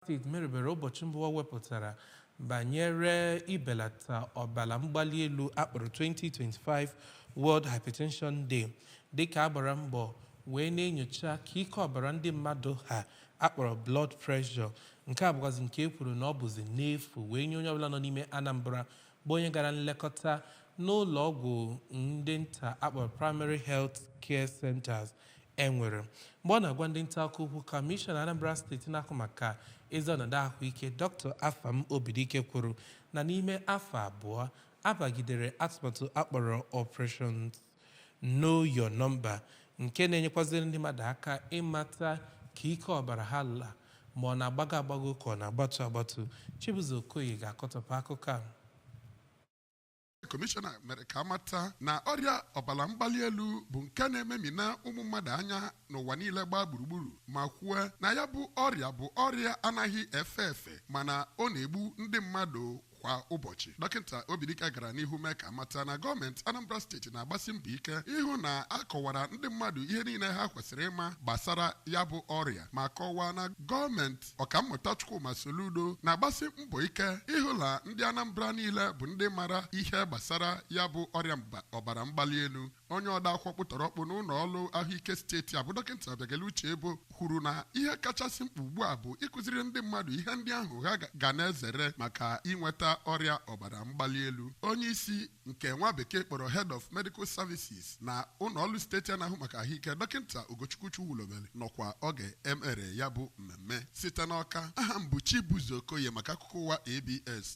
steeti merubere ụbọchị mba ụwa wepụtara banyere ibelata ọbara mgbali elu a kpọrọ 2025 World Hypertension Day dịka a gbara mbọ wee na-enyocha ka ike ọbara ndị mmadụ ha a kpọrọ blood pressure nke a bụkwazi nke e kwuru na ọ bụzi n'efu wee nye onye ọbụla nọ n'ime Anambra bụ onye gara nlekọta n'ụlọ ọgwụ ndị nta a kpọrọ Primary Health Care Centers e nwere. Mgbe ọ na-agwa ndị nta akụkọ okwu, Kọmishọna Anambra steeti na-ahụ maka ezi ọnọdụ ahụike, Dr. Afam Obidike kwuru na n'ime afọ abụọ, a bagidere atụmatụ a kpọrọ Operation Know Your Number nke na-enyekwaziri ndị mmadụ aka ịmata ka ike ọbara ha la ma ọ na-agbago agbago ka ọ na-agbatu agbatu Chibuzo Okoye ga-akọtọpụ akụkọ a kọmishọna mere ka a mata na ọrịa ọbara mgbali elu bụ nke na-ememina ụmụ mmadụ anya n'ụwa niile gbaa gburugburu ma kwuo na ya bụ ọrịa bụ ọrịa anaghị efe efe mana ọ na-egbu ndị mmadụ kwa ụbọchị dọkịta Obidike gara n'ihu mee ka a mata na gọọmenti Anambra steeti na-agbasi mbọ ike ịhụ na a kọwara ndị mmadụ ihe niile ha kwesịrị ịma gbasara ya bụ ọrịa ma kọwaa na gọọmenti ọkammụta Chukwuma Soludo na-agbasi mbọ ike ịhụ na ndị Anambra niile bụ ndị mara ihe gbasara ya bụ ọrịa ọbara mgbali elu onye odeakwụkwọ ọkpụtọrọkpụ n'ụlọ ọrụ ahụike steeti a bụ dọkịta Obiageli Uchebo kwuru na ihe kachasị mkpa ugbu a bụ ịkụziri ndị mmadụ ihe ndị ahụ ha ga na-ezere maka inweta ọrịa ọbara mgbali elu onye isi nke nwa bekee kpọrọ head of medical services na ụlọ ọrụ steeti a na-ahụ maka ahụike dọkịta Ugochukwu Chukwulobelu nọkwa oge e mere ya bụ mmemme site n'Ọka aha m bụ Chibuzo Okoye maka akụkọ ụwa ABS